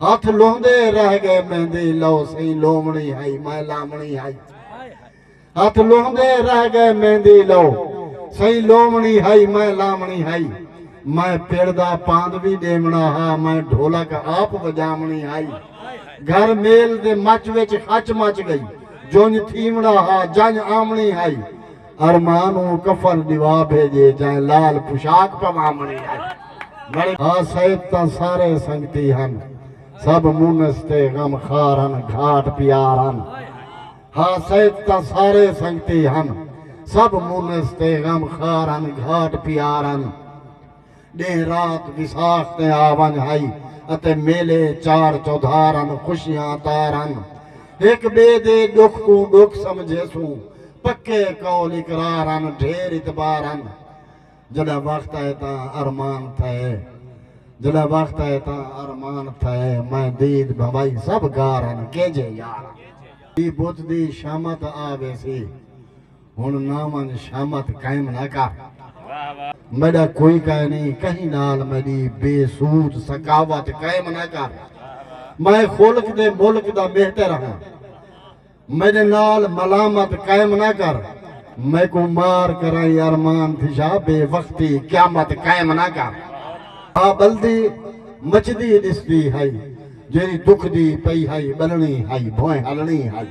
ہتھ لوہندے رہ گئے مہندی لو سئیں لوونڑی ہئی میں لاونڑی ہئی ہتھ لوہندے رہ گئے مہندی لو سئیں لوونڑی ہئی میں لاونڑی ہئی میں پڑ دا پاند وی ڈیونڑا ہا میں ڈھولک آپ وجاونڑی ہئی گھر میل دے مچ وچ ہچ مچ گئی جونج تھیونڑا ہا جنج آونڑی ہئی ارمان اوں کفن ڈیوا بھیجے جائیں لال پشاک پواں منی ہن۔ ہا سید تاں سارے سنگتی ہن سب مونس تے غم خار ہن گھاٹ پیار ہن۔ ہا سید تاں سارے سنگتی ہن سب مونس تے غم خار ہن گھاٹ پیار ہن۔ ݙینہہ رات وساخ دے آ ونڄ ہئی اتے میلے چار چودھار ہن خوشیاں تار ہن ہک ٻئے دے ݙکھ کوں ݙکھ سمجھیسوں پکے قول اقرار ہن ڈھیر اعتبار ہن جݙاں وخت آئے تاں ارمان تھئے جݙاں وخت آئے تاں ارمان تھئے میں دید بھنوائی سبھ گار ہن کیجھے یار ہن دی بت دی شامت آ ویسی۔ ہن ناں ونج شامت قائم نہ کر۔ میڈا کوئی کائے نئیں کہیں نال میڈی بے سود سکاوت قائم نہ کر۔ میں خلق دے ملک دا مہتر ہاں میڈے نال ملامت قائم نہ کر۔ میکوں مار کرائیں ارمان تھیشا بے وقتی قیامت قائم نہ کر۔ آ بلدی مچدی ڈسدی ہائی جیڑی دکھدی پئی ہائی بلنی ہائی بھوئیں ہلنی ہائی۔